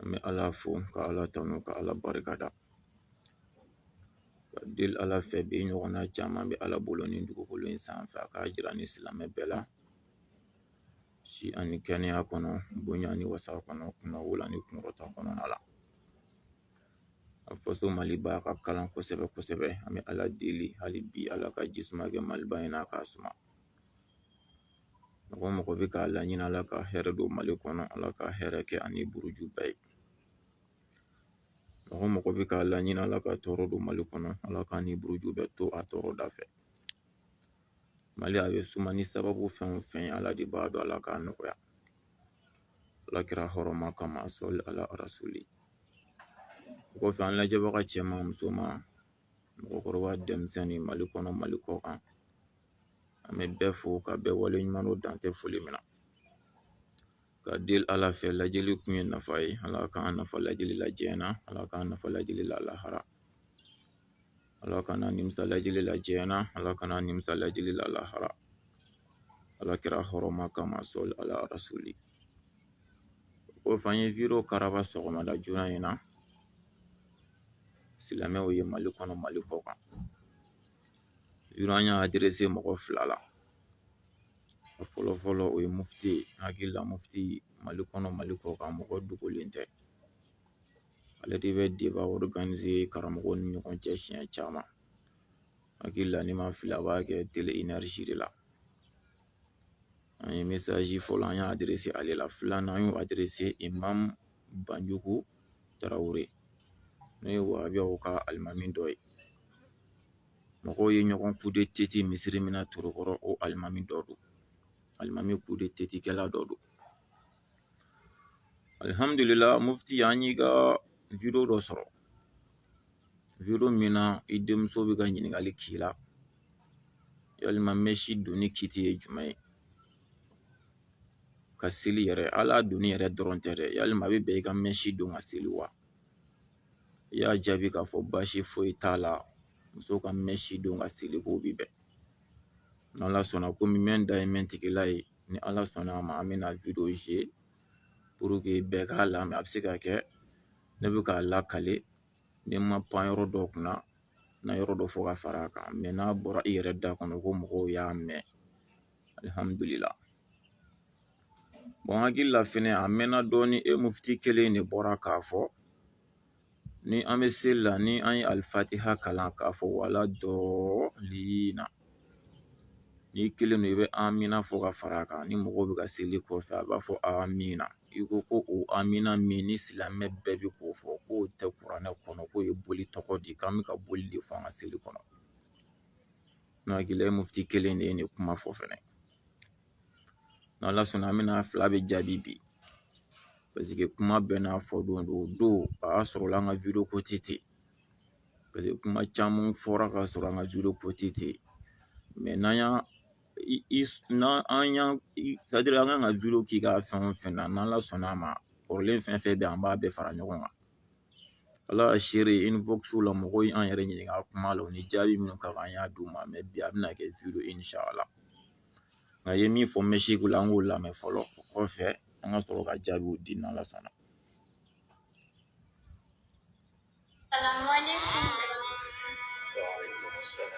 an bɛ ala fo ka ala tanu ka ala barika da ka deli ala fɛ bi ɲɔgɔnna caman bɛ ala bolo ni dugukolo in sanfɛ a k'a jira ni silamɛ bɛɛ la si ani kɛnɛya kɔnɔ bonya ni wasa kɔnɔ kunnawolo ni kunkɔrɔta kɔnɔna la a faso maliba ka kalan kosɛbɛ kosɛbɛ an bɛ ala deli hali bi ala ka jisuma kɛ maliba in na a k'a suma mɔgɔ mɔgɔ bɛ k'a laɲini ala ka hɛrɛ don mali kɔnɔ ala ka hɛrɛ kɛ a ni buruju bɛɛ ye mɔgɔ mɔgɔ bɛ k'a laɲini ala ka tɔɔrɔ don mali kɔnɔ ala k'a ni buruju bɛɛ to a tɔɔrɔ da fɛ mali a bɛ suma ni sababu fɛn o fɛn ye ala de b'a dɔn ala k'a nɔgɔya ala kira hɔrɔma kama sɔli ala rasuli o kɔfɛ an lajɛbaga cɛman musoman mɔgɔkɔrɔba denmisɛnnin mali kɔnɔ mali kɔ kan an bɛ bɛɛ fo ka bɛɛ wale ɲuman dɔn dan tɛ foli min na ka deli ala fɛ lajɛli kun ye nafa ye ala k'an nafa lajɛli la diɲɛ na ala k'an nafa lajɛli la lahara ala kan'an nimisa lajɛli la diɲɛ na ala kan'an nimisa lajɛli la lahara ala kira hɔrɔma kama sɔli ala rasuli o kɔfɛ an ye wideyo karaba sɔgɔmada joona in na silamɛw ye mali kɔnɔ mali kɔ kan video an y'a aderese mɔgɔ fila la a fɔlɔ fɔlɔ o ye mufti ye n hakili la mufti mali kɔnɔ mali kɔ kan mɔgɔ dogolen tɛ ale de bɛ deba ɔriganize karamɔgɔw ni ɲɔgɔn cɛ siɲɛ caman n hakili la ni n ma fili a b'a kɛ tele enɛriji de la an ye mesaji fɔlɔ an y'a aderese ale la filanan an y'o aderese imam banjugu tarawele n'o ye wahabiyaw ka alimami dɔ ye mɔgɔw ye ɲɔgɔn kude teti misiri min na torokɔrɔ o alimami dɔ don alimami kude teti kɛla dɔ don alhamdulillah mufti an y'i ka video dɔ sɔrɔ video min na i denmuso bɛ ka ɲininkali k'i la yalima mɛsi donni kiti ye jumɛn ye ka seli yɛrɛ a la donni yɛrɛ dɔrɔn tɛ dɛ yalima a bɛ bɛn i ka mɛsi don ka seli wa i y'a jaabi k'a fɔ baasi foyi t'a la muso ka mɛsi don ka seli k'o bi bɛn n'ala sɔnna komi mɛn da ye mɛn tigila ye ni ala sɔnna a ma an bɛna video jouer pour que bɛɛ k'a lamɛn a bɛ se ka kɛ ne bɛ k'a lakale ni n ma pan yɔrɔ dɔ kunna n na yɔrɔ dɔ fɔ ka fara a kan mais n'a bɔra i yɛrɛ da kɔnɔ ko mɔgɔw y'a mɛn alihamudulila bon n hakili la fɛnɛ a mɛnna dɔɔnin e mufti kelen de bɔra k'a fɔ ni an bɛ seli la ni an ye alifatiha kalan k'a fɔ wala dɔɔlina n'i kelen don i bɛ amina fɔ ka fara a kan ni mɔgɔw bɛ ka seli kɔfɛ a b'a fɔ amina i ko ko o amina min ni silamɛ bɛɛ bɛ k'o fɔ k'o tɛ kuranɛ kɔnɔ k'o ye boli tɔgɔ di k'an bɛ ka boli de fɔ an ka seli kɔnɔ n hakili la ye mufti kelen de ye nin kuma fɔ fɛnɛ n'ala sɔnna an bɛna a fila bɛɛ jaabi bi paseke kuma bɛɛ n'a fɔ don don o don a y'a sɔrɔ la an ka wideyo ko ti ten paseke kuma caman fɔra ka sɔrɔ an ka wideyo ko ti ten mɛ n'an y'a an y'a c'est-à-dire an kan ka wideyo k'i ka fɛn o fɛn na n'ala sɔnna a ma kɔrɔlen fɛn fɛn bɛ an b'a bɛɛ fara ɲɔgɔn kan ala ka seere inboxw la mɔgɔw ye an yɛrɛ ɲininka kuma la u ni jaabi minnu ka kan an y'a d'u ma mɛ bi a bɛna kɛ video ye inshallah nka a ye min fɔ mɛsi ko la an k'o lamɛn fɔlɔ o kɔfɛ an ka sɔrɔ ka jaabiw di n'ala sɔnna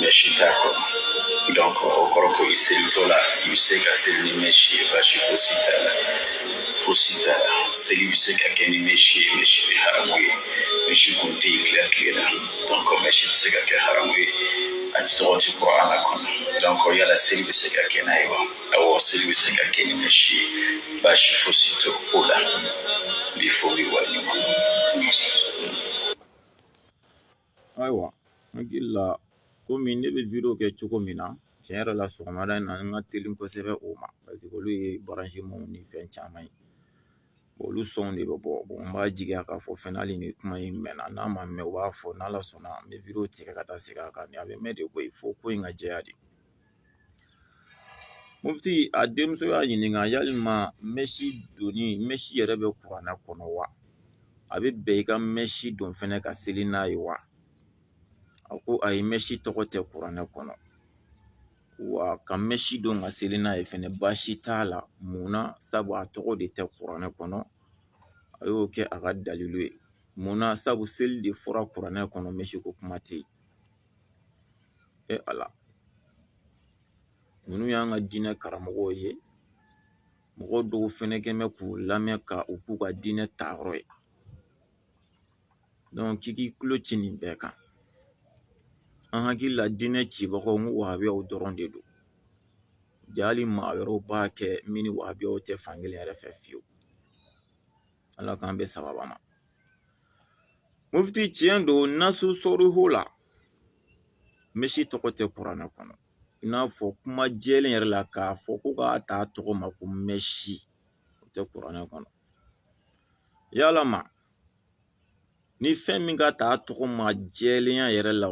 mɛsi t'a kɔnɔ donc o kɔrɔ ko i selitɔ la i bɛ se ka seli ni mɛsi ye baasi fosi t'a la fosi t'a la seli bɛ se ka kɛ ni mɛsi ye mɛsi tɛ haramu ye mɛsi kun tɛ yen tile tile la donc mɛsi tɛ se ka kɛ haramu ye a tɛ tɔgɔ tɛ kuranɛ kɔnɔ donc yala seli bɛ se ka kɛ n'a ye wa awɔ seli bɛ se ka kɛ ni mɛsi ye baasi fosi tɛ o la n b'i fo n b'i waleɲuman. ayiwa n hakili la komi ne bɛ wideyo kɛ cogo min na tiɲɛ yɛrɛ la sɔgɔmada in na n ka teli kosɛbɛ o ma paseke olu ye baransimanw ni fɛn caman ye olu sɔnw de bɛ bɔ n b'a jigiya k'a fɔ fɛnɛ hali ni kuma in mɛnna n'a ma mɛn u b'a fɔ n'ala sɔnna n bɛ wideyo tigɛ ka taa segin a kan a bɛ mɛn de koyi fo ko in ka jɛya de mufti a denmuso y'a ɲininka yalima mɛsi donni mɛsi yɛrɛ bɛ kuranɛ kɔnɔ wa a bɛ bɛn i ka mɛsi don fɛnɛ ka seli n'a ye wa a ko ayi mɛsi tɔgɔ tɛ kuranɛ kɔnɔ wa ka mɛsi don ka seli n'a ye fɛnɛ baasi t'a la mun na sabu a tɔgɔ de tɛ kuranɛ kɔnɔ a y'o kɛ a ka dalilu ye mun na sabu seli de fɔra kuranɛ kɔnɔ mɛsi ko kuma tɛ yen e ala ninnu y'an ka diinɛ karamɔgɔw ye mɔgɔ dɔw fɛnɛ kɛ mɛ k'u lamɛn ka u k'u ka diinɛ tayɔrɔ ye donc k'i k'i tulo ci nin bɛɛ kan an hakili la diinɛ cibagaw n ko wahabiyaw dɔrɔn de don ja hali maa wɛrɛw b'a kɛ min ni wahabiyaw tɛ fankelen yɛrɛ fɛ fiyewu ala k'an bɛn sawaba ma mufti tiɲɛ don nasu sɔriho la mɛsi tɔgɔ tɛ kuranɛ kɔnɔ i n'a fɔ kuma jɛlen yɛrɛ la k'a fɔ ko k'a ta tɔgɔ ma ko mɛsi o tɛ kuranɛ kɔnɔ yalama ni fɛn min ka ta tɔgɔ ma jɛlenya yɛrɛ la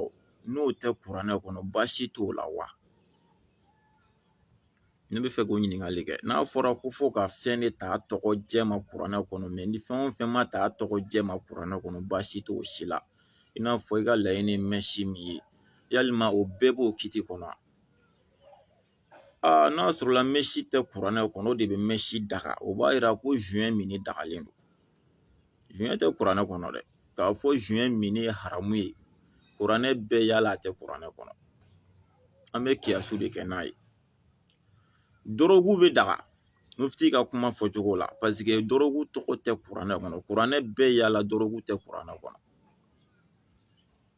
n'o tɛ kuranɛ kɔnɔ baasi t'o la wa ne bɛ fɛ k'o ɲininkali kɛ n'a fɔra ko fo ka fɛn de ta tɔgɔ jɛ ma kuranɛ kɔnɔ mɛ ni fɛn o fɛn ma ta tɔgɔ jɛ ma kuranɛ kɔnɔ baasi t'o si la i n'a fɔ i ka laɲini mɛsi min ye yalima o bɛɛ b'o kiti kɔnɔ aa n'a sɔrɔla mɛsi tɛ kuranɛ kɔnɔ o de bɛ mɛsi daga o b'a yira ko zuɲɛ min dagalen don zuɲɛ tɛ kuranɛ kɔnɔ dɛ k'a fɔ zuɲɛ min ye haramu ye kuranɛ bɛɛ yala a tɛ kuranɛ kɔnɔ an bɛ kiyasu de kɛ n'a ye dɔrɔgu bɛ daga mufti ka kuma fɔcogo la paseke dɔrɔgu tɔgɔ tɛ kuranɛ kɔnɔ kuranɛ bɛɛ yala dɔrɔgu tɛ kuranɛ kɔnɔ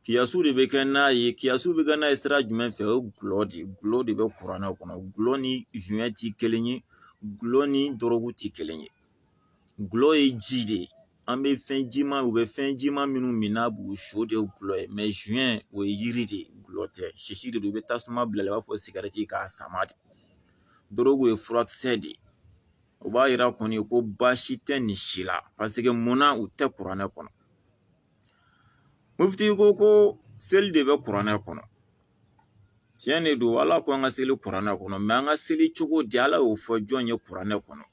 kiyasu de bɛ kɛ n'a ye kiyasu bɛ kɛ n'a ye sira jumɛn fɛ o ye gulɔ de ye gulɔ de bɛ kuranɛ kɔnɔ gulɔ ni zuɲɛ tɛ kelen ye gulɔ ni dɔrɔgu tɛ kelen ye gulɔ ye ji de ye an bɛ fɛn jima u bɛ fɛn jima minnu min n'a b'u su de ye gulɔ ye mɛ zuɲɛ o ye yiri de ye gulɔ tɛ sisi de don i bɛ tasuma bila i b'a fɔ sigɛrɛti k'a sama de dɔrɔgu ye furakisɛ de ye o b'a yira kɔni ko baasi tɛ nin si la paseke munna u tɛ kuranɛ kɔnɔ mufti ko ko seli de bɛ kuranɛ kɔnɔ tiɲɛ de don ala ko an ka seli kuranɛ kɔnɔ mɛ an ka seli cogo di ala y'o fɔ jɔn ye kuranɛ kɔnɔ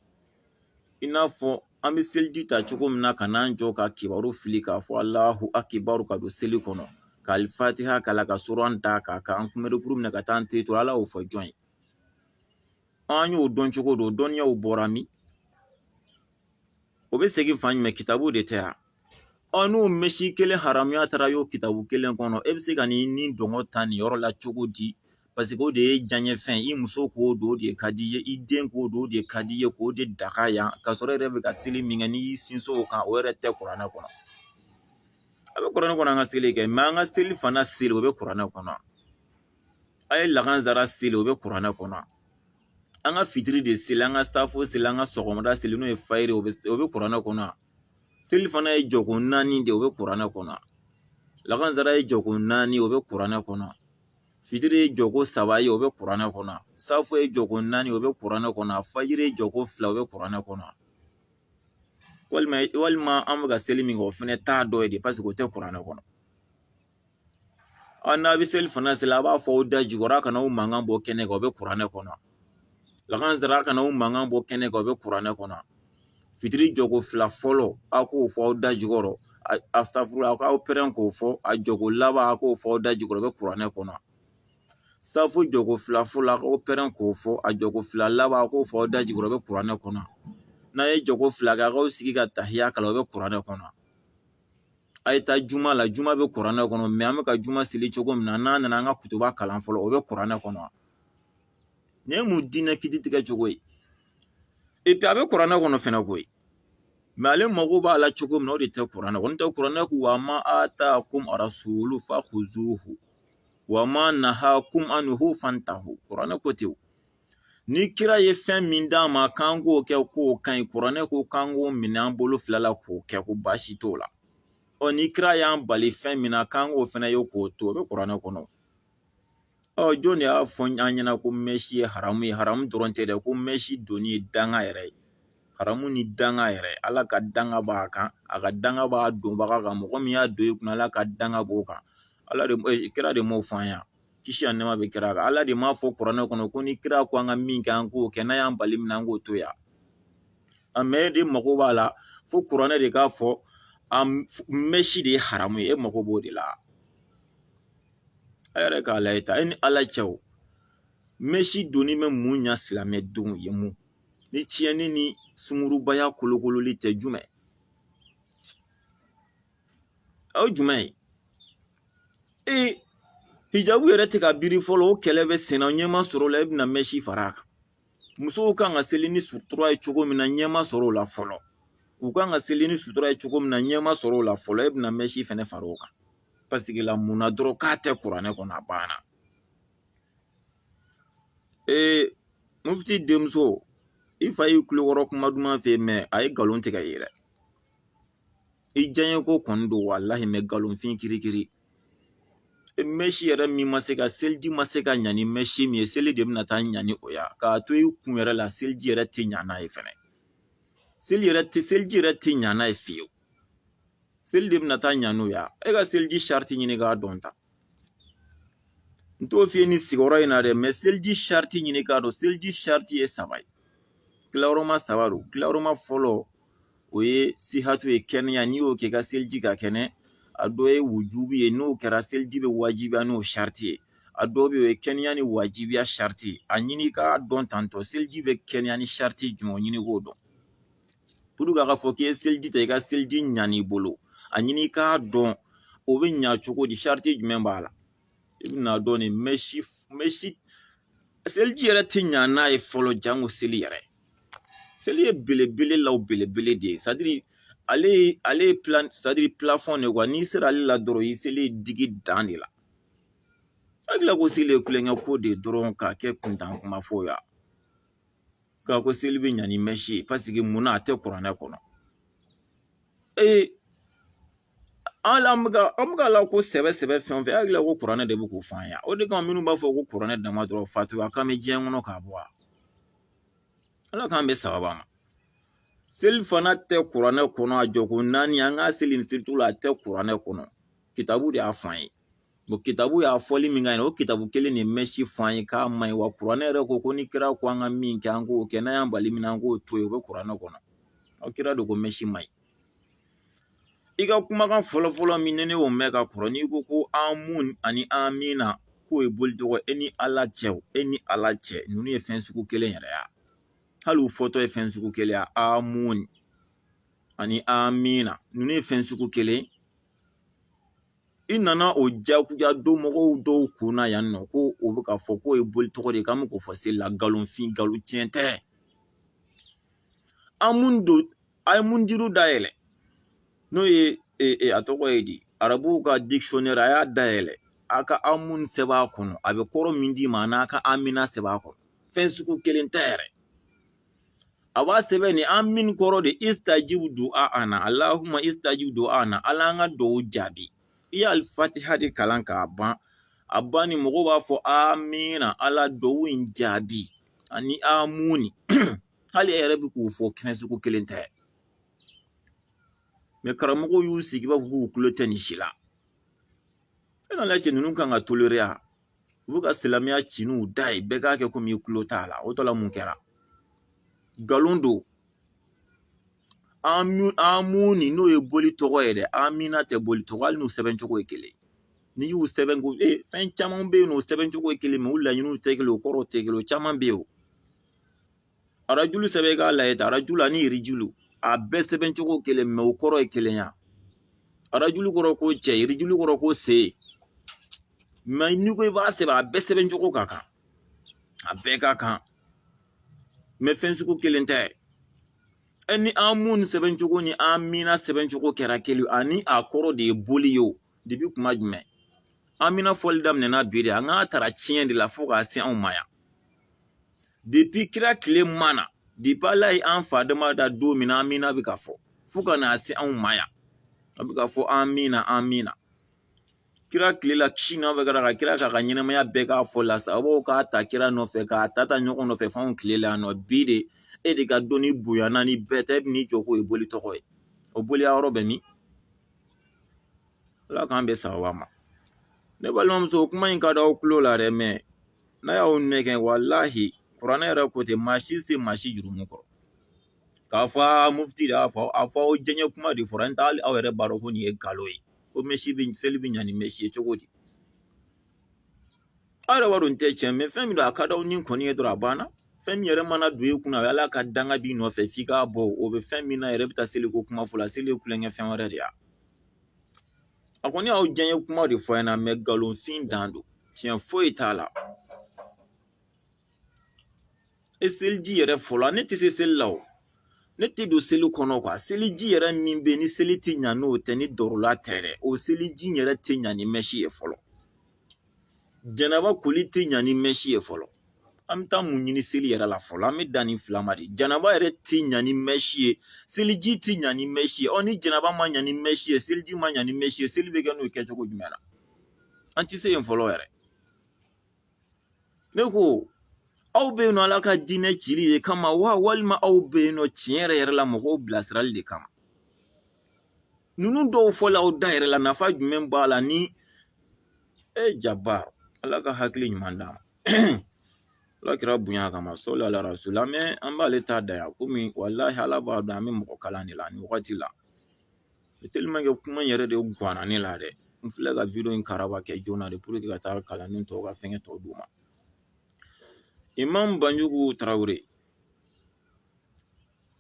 i n'a fɔ an bɛ seliji ta cogo min na ka n'an jɔ ka kibaru fili k'a fɔ alahu akibaru ka don seli kɔnɔ ka alifatiha kalan ka suran da k'a kan an kunbɛrikuru minɛ ka taa an ten turu ala y'o fɔ jɔn ye an y'o dɔn cogo don dɔnniyaw bɔra min o bɛ segin fan jumɛn kitabu de tɛ yan ɔ n'o mɛsi kelen haramuya tara y'o kitabu kelen kɔnɔ e bɛ se ka n'i nidungɔ ta nin yɔrɔ la cogo di paseke o de ye diyanyefɛn ye i muso k'o don o de ka di i ye i den k'o don o de ka di i ye k'o de daga yan ka sɔrɔ e yɛrɛ bɛ ka seli min kɛ n'i y'i sinsin o kan o yɛrɛ tɛ kuranɛ kɔnɔ a bɛ kuranɛ kɔnɔ an ka seli kɛ mɛ an ka selifana seli o bɛ kuranɛ kɔnɔ a ye lakansara seli o bɛ kuranɛ kɔnɔ an ka fitiri de seli an ka safo seli an ka sɔgɔmada seli n'o ye fajiri o bɛ kuranɛ kɔnɔ selifana ye jɔko naani de o bɛ kuranɛ kɔnɔ lakansara ye jɔko naani o bɛ kuranɛ kɔnɔ fitiri ye jɔko saba ye o bɛ kuranɛ kɔnɔ safo ye jɔko naani o bɛ kuranɛ kɔnɔ fajiri ye jɔko fila o bɛ kuranɛ kɔnɔ walima walima an bɛ ka seli min kɛ o fana t'a dɔ ye de paseke o tɛ kuranɛ kɔnɔ ɔ n'a bɛ selifana seli a b'a fɔ aw da jukɔrɔ a kana aw mankan bɔ kɛnɛ kan o bɛ kuranɛ kɔnɔ lagansara a kana aw mankan bɔ kɛnɛ kan o bɛ kuranɛ kɔnɔ fitiri jɔko fila fɔlɔ a k'o fɔ aw da jukɔrɔ astafurula a k'aw pɛrɛn k'o fɔ a jɔko laban a k'o fɔ aw da jukɔrɔ o bɛ kuranɛ kɔnɔ safo jɔko fila fɔlɔ a k'aw pɛrɛn k'o fɔ a jɔko fila laban a k'o fɔ aw da jukɔrɔ o bɛ kuranɛ kɔnɔ n'a ye jɔko fila kɛ a k'aw sigi ka tahiya kalan o bɛ kuranɛ kɔnɔ a ye taa juma la juma bɛ kuranɛ kɔnɔ mɛ an bɛ ka juma seli cogo min na n'a nana an ka kutuba kalan fɔlɔ o bɛ kuranɛ kɔnɔ nin ye mun diinɛ kiti tigɛ cogo ye epi a bɛ kuranɛ kɔnɔ fɛnɛ koyi mɛ ale mago b'a la cogo min na o de tɛ kuranɛ kɔnɔ n'o tɛ kuranɛ ko wa ma atakum arasulu fakuzuhu wa ma nahakum anuhu fantahu kuranɛ ko ten ni kira ye fɛn min d'a ma k'an k'o kɛ k'o ka ɲi kuranɛ ko k'an k'o minɛ an bolo fila la k'o kɛ ko baasi t'o la ɔ ni kira y'an bali fɛn min na k'an k'o fana ye k'o to o bɛ kuranɛ kɔnɔ ɔ jɔn de y'a fɔ an ɲɛna ko mɛsi ye haramu ye haramu dɔrɔn tɛ dɛ ko mɛsi donni ye danga yɛrɛ ye haramu ni danga yɛrɛ ala ka danga b'a kan a ka danga b'a donbaga kan mɔgɔ min y'a don i kunna ala ka danga b'o kan ala de eh, kira de m'o fɔ an ɲa kisi ani nɛɛma bɛ kira kan ala de m'a fɔ kuranɛ kɔnɔ ko ni kira ko an ka min kɛ an k'o kɛ n'a y'an bali min na an k'o to yan mɛ e de mago b'a la fo kuranɛ de k'a fɔ a mɛsi de ye haramu ye e mago b'o de la a yɛrɛ k'a lajɛ ta e ni ala cɛ o mɛsi donni bɛ mun ɲa silamɛdenw ye mun ni tiɲɛni ni sungurubaya kolokololi tɛ jumɛn o ye jumɛn ye ee hijabu yɛrɛ tɛ ka biri fɔlɔ o kɛlɛ bɛ senna ɲɛ ma sɔrɔ o la e bɛna mɛsi fara a kan musow kan ka seli ni sutura ye cogo min na ɲɛ ma sɔrɔ o la fɔlɔ u kan ka seli ni sutura ye cogo min na ɲɛ ma sɔrɔ o la fɔlɔ e bɛna mɛsi fɛnɛ fara o kan paseke la mun na dɔrɔn k'a tɛ kuranɛ kɔnɔ a banna ee mufti denmuso i fa y'i tulo kɔrɔ kuma duman fɔ mɛ a ye nkalon tigɛ i ye dɛ i diyaɲe ko kɔni don walahi mɛ nkalonfin kirikiri mɛsi yɛrɛ min ma se ka seliji ma se ka ɲa ni mɛsi min ye seli de bɛna taa ɲa ni o ya k'a to i kun yɛrɛ la seliji yɛrɛ tɛ ɲa n'a ye fɛnɛ seliji yɛrɛ tɛ ɲa n'a ye fiyewu seli de bɛna taa ɲa n'o ya e ka seliji sariti ɲini k'a dɔn ta n t'o f'i ye nin sigiyɔrɔ in na dɛ mɛ seliji sariti ɲini k'a dɔn seliji sariti ye saba ye tilayɔrɔma saba don tilayɔrɔma fɔlɔ o ye sihatu ye kɛnɛya n'i y'o kɛ i ka seliji ka kɛnɛ a dɔ ye wujubi ye n'o kɛra seliji bɛ wajibiya n'o sariti ye a dɔ bɛ yen o ye kɛnɛya ni wajibiya sariti ye a ɲini k'a dɔn tantɔ seliji bɛ kɛnɛya ni sariti jumɛn ɲini k'o dɔn puruke a ka fɔ k'i ye seliji ta i ka seliji ɲan'i bolo a ɲini i k'a dɔn o bɛ ɲa cogo di sariti jumɛn b'a la i bɛn'a dɔn nin mɛsi mɛsi seliji yɛrɛ tɛ ɲa n'a ye fɔlɔ janko seli yɛrɛ seli ye belebele la o belebele de ye sadiri ale ale ye plan sadiri plafɔn de kuwa n'i sera ale la dɔrɔn i seli digi dan de la hakili la ko seli ye tulonkɛ ko de ye dɔrɔn k'a kɛ kuntan kuma fɔ yan k'a ko seli bɛ ɲa ni mɛsi ye paseke mun na a tɛ kuranɛ kɔnɔ ee an an bɛ ka an bɛ k'ala ko sɛbɛ sɛbɛ fɛn o fɛn hakili la ko kuranɛ de bɛ k'o f'an ye o de kama minnu b'a fɔ ko kuranɛ dama dɔrɔn fatuya k'an bɛ diɲɛ kɔnɔ k'a bɔ a ala k'an bɛɛ sababa ma seli fana tɛ kuranɛ kɔnɔ a jɔko naani an k'a seli nin selitu la a tɛ kuranɛ kɔnɔ kitabu de y'a f'an ye bon kitabu y'a fɔli min ka ɲi o kitabu kelen de mɛsi fɔ an ye k'a ma ɲi wa kuranɛ yɛrɛ ko ko ni kira ko an ka min kɛ an k'o kɛ n'a y'an bali min na an k'o to yen o bɛ kuranɛ kɔnɔ aw kira de ko mɛsi ma ɲi i ka kumakan fɔlɔfɔlɔ min ni ne y'o mɛn ka kɔrɔ n'i ko ko amun ani amina k'o ye boli tɔgɔ e ni ala cɛ o e ni ala cɛ ninnu ye fɛn sugu kelen yɛrɛ ya hali u fɔtɔ ye fɛn sugu kelen ya amun ani amina ninnu ye fɛn sugu kelen i nana o jagoya don mɔgɔw dɔw kun na yan n'o ko o bɛ ka fɔ k'o ye boli tɔgɔ de ye k'an bɛ k'o fɔ seli la nkalonfin nkalon tiɲɛ tɛ amun don a ye munjidu dayɛlɛ n'o ye e, e, a tɔgɔ ye di arabuw ka dictionnaire a y'a dayɛlɛ a ka amun sɛbɛn a kɔnɔ a bɛ kɔrɔ min d'i ma an'a ka amina sɛbɛn a kɔnɔ fɛn sugu kelen tɛ yɛrɛ a b'a sɛbɛn ni amin kɔrɔ de istajibu du'a ana allahumma istajibu du'a ana ala an ka dugawu jaabi i ye alifatiha de kalan k'a ban a banni mɔgɔw b'a fɔ amina ala dugawu in jaabi ani amuni hali e yɛrɛ bɛ k'u fɔ fɛn sugu kelen tɛ mɛ karamɔgɔw y'u sigi i b'a fɔ k'u tulo tɛ nin si la e ni ala cɛ ninnu kan ka tolere a u bɛ ka silamɛya ci n'u da ye bɛɛ k'a kɛ komi i tulo t'a la o tɔ la mun kɛra nkalon don amuni n'o ye boli tɔgɔ ye dɛ amina tɛ boli tɔgɔ hali n'u sɛbɛn cogo ye kelen n'i y'u sɛbɛn ko e fɛn caman bɛ yen n'u sɛbɛn cogo ye kelen mɛ u laɲiniw tɛ kelen u kɔrɔw tɛ kelen o caman bɛ yen o arajulu sɛbɛn i k'a lajɛ ta arajulu ani irijulu a bɛɛ sɛbɛn cogo kelen mɛ o kɔrɔ ye kelen ya arajulu kɔrɔ ko cɛ irijulu kɔrɔ ko sen mɛ n'i ko i b'a sɛbɛn a bɛɛ sɛbɛn cogo ka kan a bɛɛ ka kan mɛ fɛn sugu kelen tɛ e ni amun sɛbɛn cogo ni amina sɛbɛn cogo kɛra kelen ani a kɔrɔ de ye boli ye o depi kuma jumɛn amina fɔli daminɛna bi de an k'a tara tiɲɛ de la fo k'a se anw ma yan depi kira tile ma na depi ala ye an fa dama da don min na amina bɛ ka fɔ fo ka n'a se anw ma yan a bɛ ka fɔ amina amina kira tile la kisi nɔfɛ kɛra ka kira k'a ka ɲɛnamaya bɛɛ k'a fɔ la sahabaw k'a ta kira nɔfɛ k'a ta ta ɲɔgɔn nɔfɛ f'anw tile la yan nɔ bi de e de ka dɔnni bonyana ni bɛɛ tɛ e bɛ n'i jɔ k'o ye boli tɔgɔ ye o boliya yɔrɔ bɛ min ala k'an bɛ sababa ma ne balimamuso kuma in ka di aw tulo la dɛ mɛ n'a y'aw nɛgɛn walahi kuranɛ yɛrɛ ko ten maa si se maa si jurumu kɔrɔ k'a fɔ a mufti de y'a fɔ a fɔ aw diyanye kuma de fɔra n'o tɛ hali aw yɛrɛ b'a dɔn ko nin ye nkalon ye ko mɛsi bɛ seli bɛ ɲa ni mɛsi ye cogo di aw yɛrɛ b'a dɔn nin tɛ tiɲɛ mɛ fɛn min don a ka di aw ni kɔni ye dɔrɔn a banna fɛn min yɛrɛ mana don i kunna o y'ala ka danga b'i nɔfɛ f'i k'a bɔ o bɛ fɛn min na yɛrɛ bɛ taa seliko kuma fɔ la seli ye tulonkɛ fɛn wɛrɛ de y'a a kɔni y'aw diyanye kuma de fɔ a ɲɛna mɛ nkalonfin dan don tiɲɛ foyi t'a la e seliji yɛrɛ fɔlɔ ne tɛ se seli la o ne tɛ don seli kɔnɔ kuwa seliji yɛrɛ min bɛ yen ni seli tɛ ɲa n'o tɛ ni darura tɛ dɛ o seliji yɛrɛ tɛ ɲa ni mɛsi ye fɔlɔ janaba koli tɛ ɲa ni mɛsi ye fɔlɔ an bɛ taa mun ɲini seli yɛrɛ la fɔlɔ an bɛ dan nin fila ma de janaba yɛrɛ tɛ ɲa ni mɛsi ye seliji tɛ ɲa ni mɛsi ye ɔ ni janaba ma ɲa ni mɛsi ye seliji ma ɲa ni mɛsi ye seli bɛ kɛ n'o ye kɛcogo jumɛn na an tɛ se yen fɔlɔ yɛrɛ ne ko aw bɛ yen nɔ ala ka diinɛ cili de kama wa walima aw bɛ yen nɔ tiɲɛ yɛrɛ yɛrɛ la mɔgɔw bilasirali de kama ninnu dɔw fɔla aw da yɛrɛ la nafa jumɛn b'a la ni e jaba ala ka hakili ɲuman d'a ma ala kira bonya kama sɔli ala rasula mɛ an b'ale ta da yan komi walahi ala b'a dɔn an bɛ mɔgɔ kalan de la nin wagati la tellement que kuma yɛrɛ de guwanna ne la dɛ n filɛ ka video in karaba kɛ joona de pour que ka taa kalanni tɔw ka fɛngɛ tɔw d'u ma imam banjugu tarawele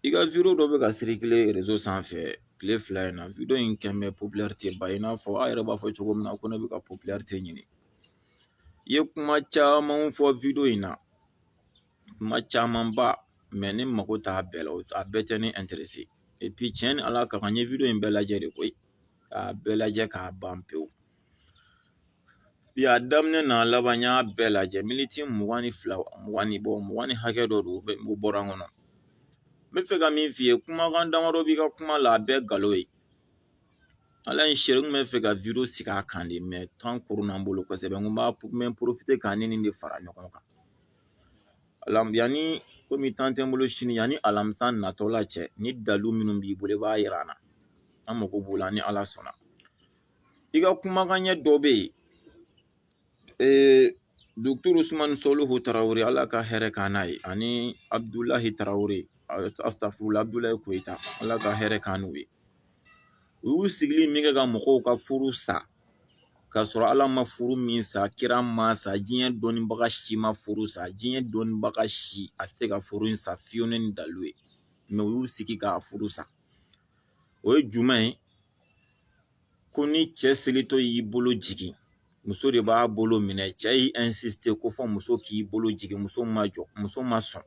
i ka video dɔ bɛ ka circuler réseau sanfɛ tile fila in na video in quand même popularité ba i n'a fɔ aw yɛrɛ b'a fɔ cogo min na ko ne bɛ ka popularité ɲini i ye kuma caman fɔ video in na kuma camanba mɛ ne mago t'a bɛɛ la a bɛɛ tɛ ne intéressé et puis tiɲɛ ni ala ka kan n ye video in bɛɛ lajɛ de koyi k'a bɛɛ lajɛ k'a ban pewu a daminɛ n'a laban n y'a bɛɛ lajɛ miniti mugan ni fila mugan ni bɔ mugan ni hakɛ dɔ don o bɔra n kɔnɔ n bɛ fɛ ka min f'i ye kumakan damadɔ b'i ka kuma la a bɛɛ nkalon ye ala ye n seere n bɛ fɛ ka video sigi a kan de mɛ tan koronna n bolo kosɛbɛ n ko n b'a n bɛ porofite k'a ni nin de fara ɲɔgɔn kan alam yanni komi tan tɛ n bolo sini yanni alamisa natɔla cɛ ni dalu minnu b'i bolo i b'a yira an na an mago b'o la ni ala sɔnna i ka kumakan ɲɛ dɔ bɛ yen ee dɔkitɔri usumani soluhu tarawele ala ka hɛrɛ k'an n'a ye ani abudulahi tarawele asitafurula abudulayi koyita ala ka hɛrɛ k'an n'u ye u y'u sigili min kɛ ka mɔgɔw ka furu sa k'a sɔrɔ ala ma furu min sa kira ma sa diɲɛ dɔnnibaga si ma furu sa diɲɛ dɔnnibaga si a tɛ se ka furu in sa fiyewu ni dalu ye mɛ u y'u sigi k'a furu sa o ye jumɛn ye ko ni cɛ selitɔ y'i bolo jigin muso de b'a bolo minɛ cɛ y'i insiste ko fɔ muso k'i bolo jigin muso ma jɔ muso ma sɔn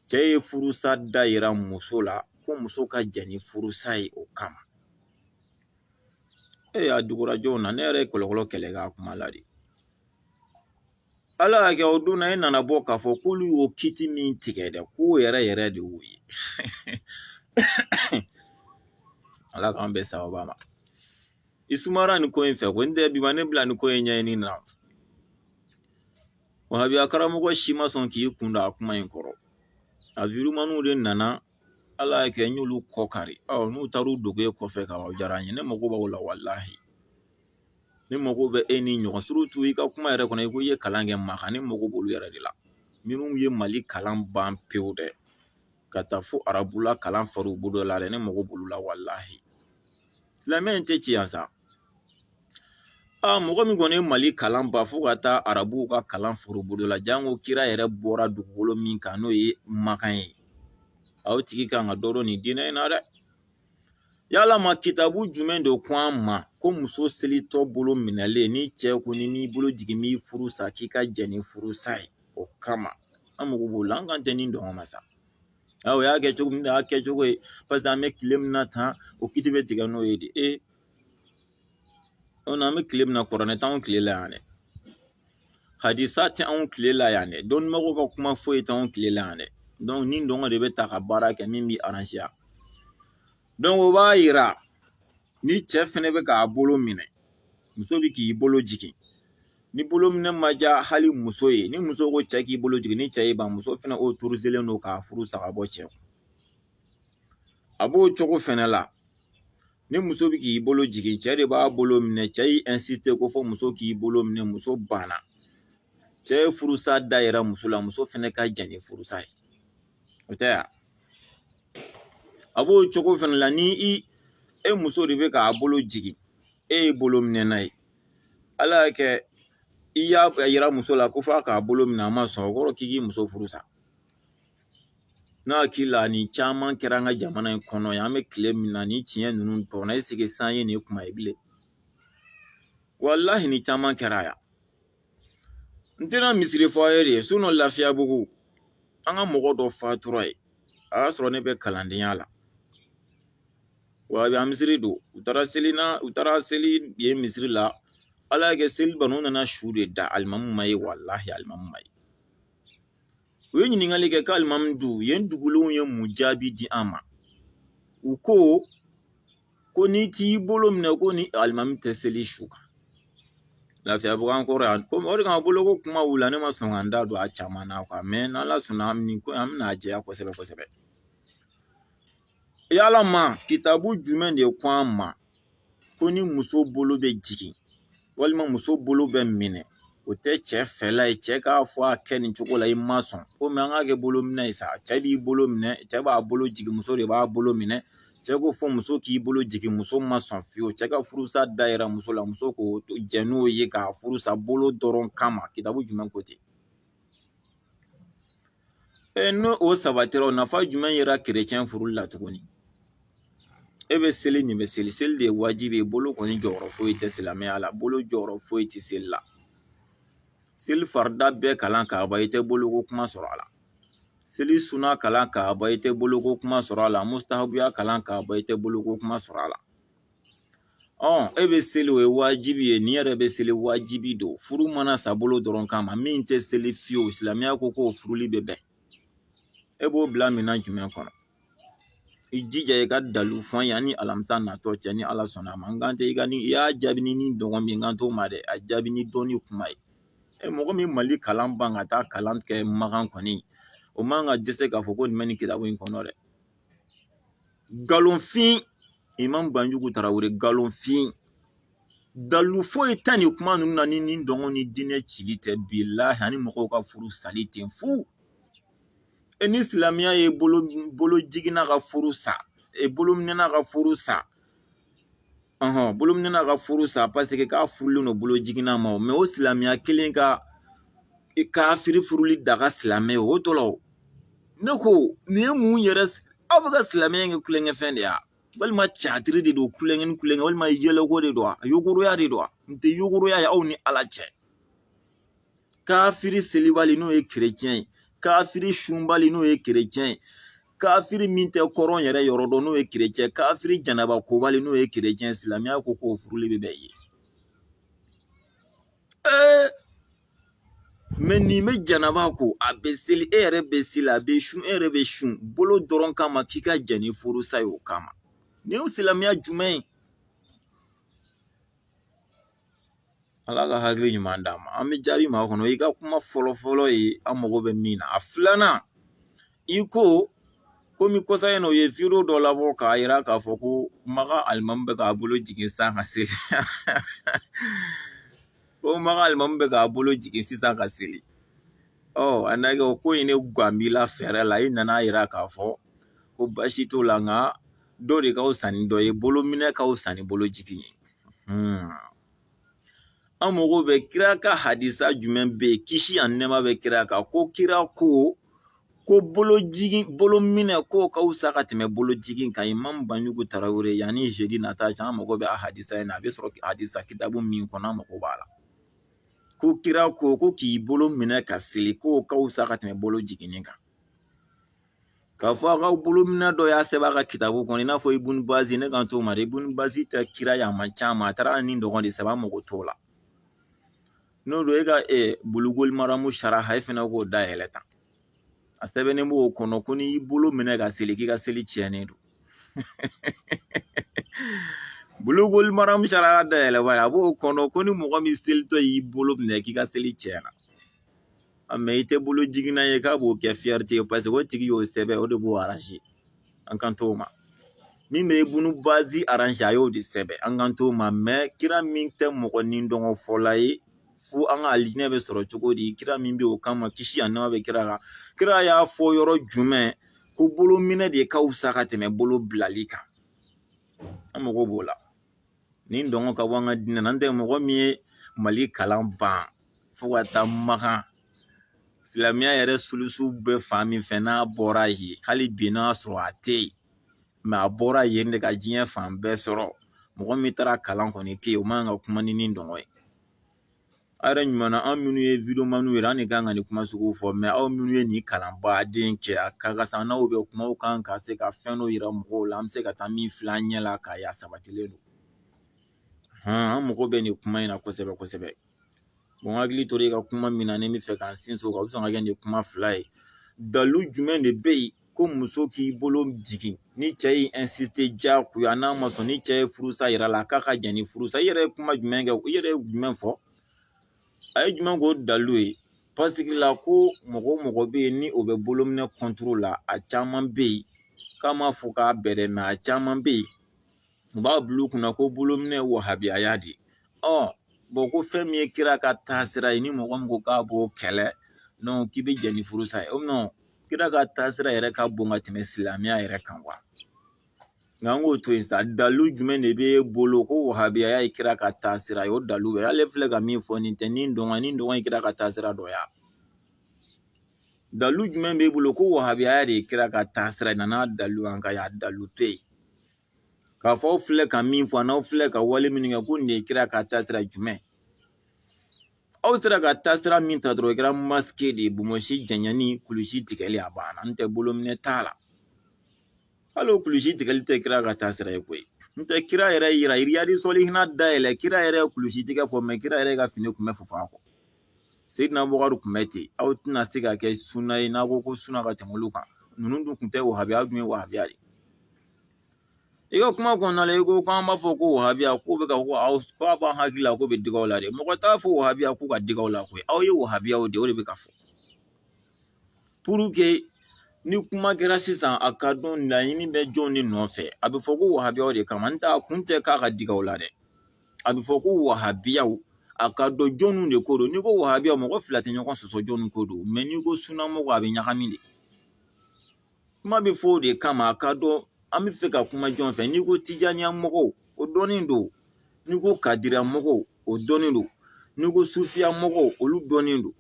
cɛ ye furusa da yira muso la ko muso ka jɛn ni furusa ye o kama e y'a dugurajɔw na ne yɛrɛ ye kɔlɔkɔlɔ kɛlɛ k'a kuma la de ala y'a kɛ o don na e nana bɔ k'a fɔ k'olu y'o kiti min tigɛ dɛ k'o yɛrɛ yɛrɛ de y'o ye ala k'an bɛɛ sababa ma i sumara nin ko in fɛ ko n tɛ bi ma ne bila nin ko in ɲɛɲini na wahabiya karamɔgɔ si ma sɔn k'i kun don a kuma in kɔrɔ a virumaniw de nana ala y'a kɛ n y'olu kɔ kari ɔ n'u taar'u dogo e kɔfɛ ka o diyara n ye ne mago b'aw la walahi ne mago bɛ e ni ɲɔgɔn surutu i ka kuma yɛrɛ kɔnɔ i ko i ye kalan kɛ makan ne mago b'olu yɛrɛ de la minnu ye mali kalan ban pewu dɛ ka taa fo arabula kalan far'u bolo la dɛ ne mago b'olu la walahi silamɛ in tɛ ci yan sa a mɔgɔ min kɔni ye mali kalan ban fo ka taa arabuw ka kalan far'u bolo la janko kira yɛrɛ bɔra dugukolo min kan n'o ye makan ye aw tigi kan ka dɔ dɔn nin diinɛ in na dɛ yalama kitabu jumɛn de ko an ma ko muso selitɔ bolo minɛlen ni cɛ ko n'i m'i bolo jigin n b'i furu sa k'i ka jɛn ni furusa ye o kama an mago b'o la an kan tɛ nidungɔ ma sa o y'a kɛ cogo min na a y'a kɛ cogo ye paseke an bɛ tile min na tan o kiti bɛ tigɛ n'o ye de ee An bɛ tile min na kuranɛ t'anw tile la yan dɛ hadisa tɛ anw tile la yan dɛ dɔnnibagaw ka kuma foyi t'anw tile la yan dɛ nidungɔ de bɛ ta ka baara kɛ min b'i aranze dɔnki o b'a yira ni cɛ fɛnɛ bɛ k'a bolo minɛ muso bɛ k'i bolo jigin ni bolo minɛ ma diya hali muso ye ni muso ko cɛ k'i bolo jigin ni cɛ y'i ban muso fɛnɛ otorizelen don k'a furu sa ka bɔ cɛ a b'o cogo fɛnɛ la ni muso bɛ k'i bolo jigin cɛ de b'a bolo minɛ cɛ y'i ɛnsisite ko fɔ muso k'i bolo minɛ muso banna cɛ ye furusa da yira muso la muso fɛnɛ ka jɛn ni furusa ye o tɛ yan a b'o cogo fɛnɛ la ni e muso de bɛ k'a bolo jigin e ye bolominɛna ye ala y'a kɛ i y'a yira muso la ko f'a k'a bolo minɛ a ma sɔn o kɔrɔ k'i k'i muso furu sa Ne hakili la nin caman kɛra an ka jamana in kɔnɔ yan an bɛ tile min na ni tiɲɛ ninnu tɔɔrɔ eseke san ye nin kuma ye bilen walahi nin caman kɛra yan n tɛna misiri fɔ aw ye dɛ sinɔn lafiyabugu an ka mɔgɔ dɔ fatura yen a y'a sɔrɔ ne bɛ kalandenya la wa a bɛ an misiri don u taara seli na u taara seli yen misiri la ala y'a kɛ seli ban u nana su de da alimamu ma ye walahi alimamu ma ye u ye ɲininkali kɛ ko alimamu dun yen dugulenw ye mun jaabi di an ma u ko ko n'i t'i bolo minɛ kɔni alimami tɛ seli su kan lafiyabugu an kɔrɔ yan komi o de kama boloko kuma wulila ne ma sɔn ka n da don a caman na kuwa mɛ n'ala sɔnna an bɛ ko an bɛna a jɛya kosɛbɛ kosɛbɛ yala ma kitabu jumɛn de ko an ma ko ni muso bolo bɛ jigin walima muso bolo bɛ minɛ o tɛ cɛ fɛla ye cɛ k'a fɔ a kɛ nin cogo la i ma sɔn komi an k'a kɛ bolo minɛ ye sa cɛ b'i bolo minɛ cɛ b'a bolo jigin muso de b'a bolo minɛ cɛ ko fo muso k'i bolo jigin muso ma sɔn fiyewu cɛ ka furusa da yira muso la muso ka jɛn n'o ye k'a furusa bolo dɔrɔn kama kitabu jumɛn ko ten e ni o sabatira o nafa jumɛn yera kerecɛn furuli la tuguni e bɛ seli nin bɛ seli seli de ye wajibi ye bolo kɔni jɔyɔrɔ foyi tɛ silamɛya la bolo jɔyɔrɔ foyi tɛ seli la seli farida bɛɛ kalan k'a ban i tɛ boloko kuma sɔrɔ a la seli suna kalan k'a ban i tɛ boloko kuma sɔrɔ a la mustahabuya kalan k'a ban i tɛ boloko kuma sɔrɔ a la ɔ e bɛ seli o ye wajibi ye nin yɛrɛ bɛ seli wajibi don furu mana sa bolo dɔrɔn kama min tɛ seli fiyewu silamɛya ko k'o furuli bɛ bɛn e b'o bila minɛn jumɛn kɔnɔ i jija i ka dalu fɔ yanni alamisa natɔ cɛ ni ala sɔnna a ma n kan tɛ i ka ni i y'a jaabi ni nidungɔ ne kan t'o ma dɛ a jaabi ni dɔnni kuma ye e mɔgɔ min mali kalan ban ka taa kalan kɛ makan kɔni o man ka dɛsɛ k'a fɔ ko nin bɛ nin kitabu in kɔnɔ dɛ nkalonfin imam banjugu tarawele nkalonfin dalu foyi tɛ nin kuma ninnu na ni nidungɔ ni diinɛ cili tɛ bilahi ani mɔgɔw ka furu sali ten fu e ni silamɛya ye bolo bolo jiginna ka furu sa e bolo minɛna ka furu sa ɔhɔn bolominɛna ka furu sa paseke k'a furulen don bolo jiginna ma mɛ o silamɛya kelen ka kafiri furuli daga silamɛ o tɔ la o ne ko nin ye mun yɛrɛ aw bɛ ka silamɛya kɛ tulonkɛfɛn de ye walima catiri de don tulonkɛ ni tulonkɛ walima yɛlɛko de don wa yogoroya de don wa nin tɛ yogoroya ye aw ni ala cɛ kafiri selibali n'o ye kerecɛn ye kafiri sunbali n'o ye kerecɛn ye kafiri min tɛ kɔrɔn yɛrɛ yɔrɔ dɔn n'o ye kerecɛn kafiri janaba kobali n'o ye kerecɛn silamɛya ko k'o furuli bɛ bɛn ye ee mɛ nin bɛ janaba ko a bɛ seli e yɛrɛ bɛ seli a bɛ sun e yɛrɛ bɛ sun bolo dɔrɔn kama k'i ka jɛn ni furusa ye o kama nin ye silamɛya jumɛn ye ala ka hakili ɲuman d'a ma an bɛ jaabi makɔnɔ i ka kuma fɔlɔ fɔlɔ ye an mago bɛ min na a filanan i ko komi kɔsa in na u ye video dɔ labɔ k'a yira k'a fɔ ko makan alimamu bɛ k'a bolo jigin sisan ka seli ko makan alimamu bɛ k'a bolo jigin sisan ka seli ɔ a na kɛ o ko in ne gan b'i la fɛɛrɛ la i nana a yira k'a fɔ ko baasi t'o la nka dɔ de ka fisa ni dɔ ye bolo minɛ ka fisa ni bolo jigin ye hmm. an mago bɛ kira ka hadisa jumɛn bɛ yen kisi ani nɛɛma bɛ kira kan ko kira ko ko bolo jigin bolo minɛ k'o ka fisa ka tɛmɛ bolo jigin kan imamu banjugu tarawele yanni zedi nata cɛ an mago bɛ a hadisa in na a bɛ sɔrɔ hadisa kitabu min kɔnɔ an mago b'a la ko kira ko ko k'i bolo minɛ ka seli k'o ka fisa ka tɛmɛ bolo jiginni kan k'a fɔ a ka bolominɛ dɔ y'a sɛbɛn a ka kitabu kɔnɔ i n'a fɔ ibun bazi ne kan t'o ma dɛ ibun bazi tɛ kira ye a man ca ma a taara nidungɔ de sɛbɛn an mago t'o la n'o don e ka e bulugul maramu saraha e fana k'o dayɛlɛ tan a sɛbɛnnen b'o kɔnɔ ko n'i y'i bolo minɛ ka seli k'i ka seli tiɲɛnen don bulugul maramu saraha dayɛlɛ b'a ye a b'o kɔnɔ ko ni mɔgɔ min selitɔ y'i bolo minɛ k'i ka seli tiɲɛna mɛ i tɛ bolo jiginna ye k'a b'o kɛ fiyɛrite ye paseke o tigi y'o sɛbɛn o de b'o aranze an kan t'o ma min bɛ ibun bazi aranze a y'o de sɛbɛn an kan t'o ma mɛ kira min tɛ mɔgɔ nidungɔ fɔla ye fo an ka alijinɛ bɛ sɔrɔ cogo di kira min bɛ o kama kisi ani nɛɛma bɛ kira kan kira y'a fɔ yɔrɔ jumɛn ko bolo minɛ de ka fisa ka tɛmɛ bolo bilali kan an mago b'o la nidungɔ ka bɔ an ka diinɛ na n tɛ mɔgɔ min ye mali kalan ban fo ka taa makan silamɛya yɛrɛ sulusu bɛ fan min fɛ n'a bɔra yen hali bi n'a sɔrɔ a tɛ yen mɛ a bɔra yen de ka diɲɛ fan bɛɛ sɔrɔ mɔgɔ min taara kalan kɔni kɛ yen o man kan ka kuma ni nidungɔ ye a yɛrɛ ɲuman na anw minnu ye wideomaniw yɛrɛ an de kan ka nin kuma sugu fɔ mɛ aw minnu ye nin kalan baden kɛ a ka kan sisan n'aw bɛ kuma aw kan ka se ka fɛn dɔ yira mɔgɔw la an bɛ se ka taa min filɛ an ɲɛ la k'a y'a sabatilen don hɔn an mago bɛ nin kuma in na kosɛbɛ kosɛbɛ bɔn hakili tora i ka kuma min na ni n b'a fɛ k'an sinsin o kan o bɛ sɔn ka kɛ nin kuma fila ye dalu jumɛn de bɛ yen ko muso k'i bolo jigin ni cɛ y'i insiste diyagoya n'a ma sɔn ni cɛ ye furusa yir'a la k'a ka jɛn ni furusa i yɛrɛ ye kuma jumɛn kɛ i yɛrɛ ye jumɛn fɔ a ye jumɛn k'o dalu ye pasiki la ko mɔgɔ o mɔgɔ bɛ yen ni o bɛ bolominɛ kɔntoro la a caman bɛ yen k'a ma fɔ k'a bɛɛ dɛ mɛ a caman bɛ yen u b'a bila u kunna ko bolominɛ ye wahabiyaya de ɔ bɔn ko fɛn min ye kira ka taasira ye ni mɔgɔ min ko k'a b'o kɛlɛ non k'i bɛ jɛn ni furusa ye non kira ka taasira yɛrɛ ka bon ka tɛmɛ silamɛya yɛrɛ kan wa nka an k'o to yen sa dalu jumɛn de b'e bolo ko wahabiyaya ye kira ka taasira ye o dalu bɛ ale filɛ ka min fɔ nin tɛ nin dɔnka nin dɔnka ye kira ka taasira dɔ ya dalu jumɛn b'e bolo ko wahabiyaya de ye kira ka taasira ye na n'a dalu an ka y'a dalu to yen k'a fɔ aw filɛ ka min fɔ n'aw filɛ ka wale minnu kɛ ko nin de ye kira ka taasira jumɛn aw sera ka taasira min ta dɔrɔn o kɛra masike de ye bonbonsi janyani kulusi tigɛli a banna n tɛ bolominɛ t'a la hali o kulusi tigɛli tɛ kira ka taasira ye koyi n tɛ kira yɛrɛ yira iriyadi sɔlihina dayɛlɛ kira yɛrɛ ye kulusi tigɛ fɔ mɛ kira yɛrɛ ka fini kun bɛ fofo a kɔ seyidina bɔkari kun bɛ ten aw tɛna se ka kɛ suna ye n'a ko ko suna ka tɛmɛ olu kan ninnu dun kun tɛ wahabiya dun ye wahabiya de i ka kuma kɔnɔna la i ko k'an b'a fɔ ko wahabiya k'o bɛ ka ko aw ko a b'an hakili la k'o bɛ dig'aw la dɛ mɔgɔ t'a fɔ wahabiya k'o ka dig'aw la koyi aw ye wahabiyaw de o de bɛ ka fɔ puruke ni kuma kɛra sisan a ka dɔn laɲini bɛ jɔn de nɔfɛ a bɛ fɔ ko wahabiyaw de kama n t'a kun tɛ k'a ka dig'aw la dɛ a bɛ fɔ ko wahabiyaw a ka dɔn jɔnniw de ko don n'i ko wahabiya mɔgɔ fila tɛ ɲɔgɔn sɔsɔ jɔnni ko don mɛ n'i ko sunamɔgɔ a bɛ ɲagami de kuma bɛ fɔ o de kama a ka dɔn an b'a fɛ ka kuma jɔn fɛ n'i ko tijaniya mɔgɔw o dɔnnen don n'i ko kadira mɔgɔw o dɔnnen don n'i ko sufiya mɔgɔw olu dɔnnen don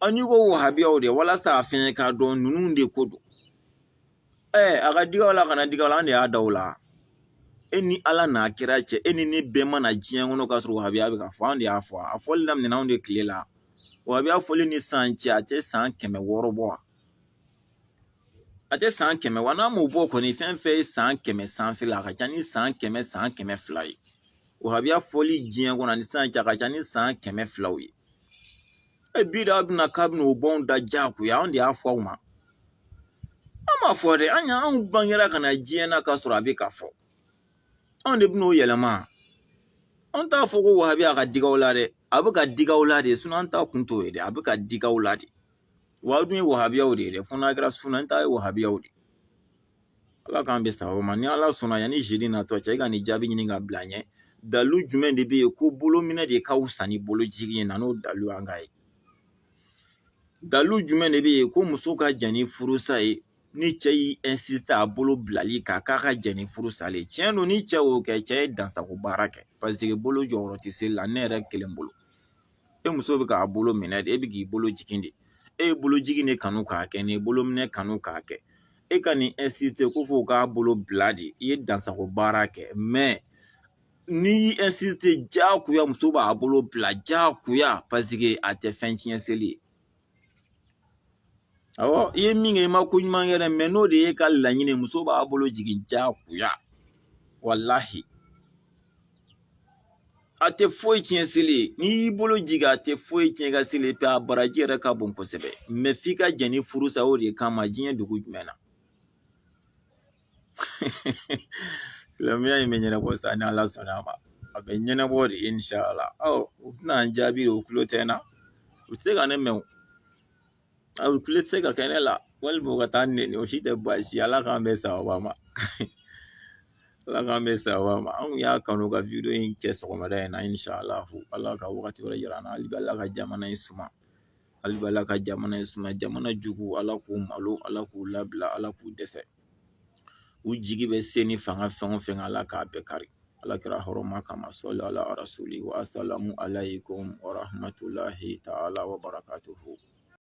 an n'i ko wahabiyaw de walasa a fɛnɛ k'a dɔn ninnu de ko don ɛɛ a ka dig'aw la a kana dig'aw la an de y'a da aw la e ni ala n'a kira cɛ e ni ne bɛɛ ma na diɲɛ kɔnɔ k'a sɔrɔ wahabiya bɛ ka fɔ an de y'a fɔ a fɔli daminɛna anw de tile la wahabiya fɔli ni san cɛ a tɛ san kɛmɛ wɔɔrɔ bɔ wa a tɛ san kɛmɛ wa n'a m'o bɔ kɔni fɛn o fɛn ye san kɛmɛ sanfɛ la a ka ca ni san kɛmɛ san kɛmɛ fila ye wahabiya fɔli diɲɛ kɔnɔ ani san cɛ a ka ca ni san kɛmɛ fila ye e bi de bɛna k'a bɛna o bɔ anw da jagoya anw de y'a fɔ aw ma an m'a fɔ dɛ an y'anw bangera ka na diɲɛ na k'a sɔrɔ a bɛ ka fɔ anw de bɛn'o yɛlɛma an t'a fɔ ko wahabiya ka dig'aw la dɛ a bɛ ka dig'aw la de an t'a kun t'o ye dɛ a bɛ ka dig'aw la de Wa dun ye wahabiyaw de ye dɛ fo n'a kɛra sunna ta ye wahabiyaw de ala k'an bɛn sawaba ma ni ala sɔnna yanni zidi natɔ cɛ i ka nin jaabi ɲini ka bila ɲɛ dalu jumɛn de bɛ yen ko bolominɛ de ka fisa ni bolo jigin ye na n'o dalu an k'a ye dalu jumɛn de bɛ yen ko muso ka jɛn ni furusa ye ni cɛ y'i insiste a bolo bilali kan k'a ka jɛn ni furusa ye tiɲɛ don ni cɛ y'o kɛ cɛ ye dansago baara kɛ paseke bolo jɔyɔrɔ tɛ seli la ne yɛrɛ kelen bolo e muso bɛ k'a bolo minɛ de e bɛ k'i bolo jigin de e ye bolo jigin de kanu k'a kɛ n'i ye bolo minɛ kanu k'a kɛ e kan'i insiste ko fo k'a bolo bila de i ye dansago baara kɛ mɛ n'i y'i insiste jagoya muso b'a bolo bila jagoya paseke a tɛ fɛn tiɲɛ seli ye awɔ i ye min kɛ i ma ko ɲuman kɛ dɛ mɛ n'o de y'i ka laɲini muso b'a bolo jigin jagoya walahi a tɛ foyi tiɲɛ seli ye n'i y'i bolo jigin a tɛ foyi tiɲɛ ka seli pe a baraji yɛrɛ ka bon kosɛbɛ mɛ f'i ka jɛn ni furusa o de kama diɲɛ dugu jumɛn na silamɛya in bɛ ɲɛnabɔ sa ni ala sɔnna a ma a bɛ ɲɛnabɔ dɛ inshala ɔ u tɛna n jaabi dɛ u tulo tɛ n na u tɛ se ka ne mɛn o a u tulo tɛ se ka kɛ ne la walima u ka taa n nɛni o si tɛ baasi ye ala k'an bɛn sawaba ma ala k'an bɛn sawaba ma anw y'a kanu ka wideyo in kɛ sɔgɔmada in na inshala ala ka wagati wɛrɛ yira an na hali bi ala ka jamana in suma hali b'ala ka jamana in suma jamana juguw ala k'u malo ala k'u labila ala k'u dɛsɛ u jigi bɛ se ni fanga fɛn o fɛn ala k'a bɛɛ kari ala kira hɔrɔma kama sɔli ala rasuli wa asalamu alaykum wa rahmatulahi taala wa barakatuhu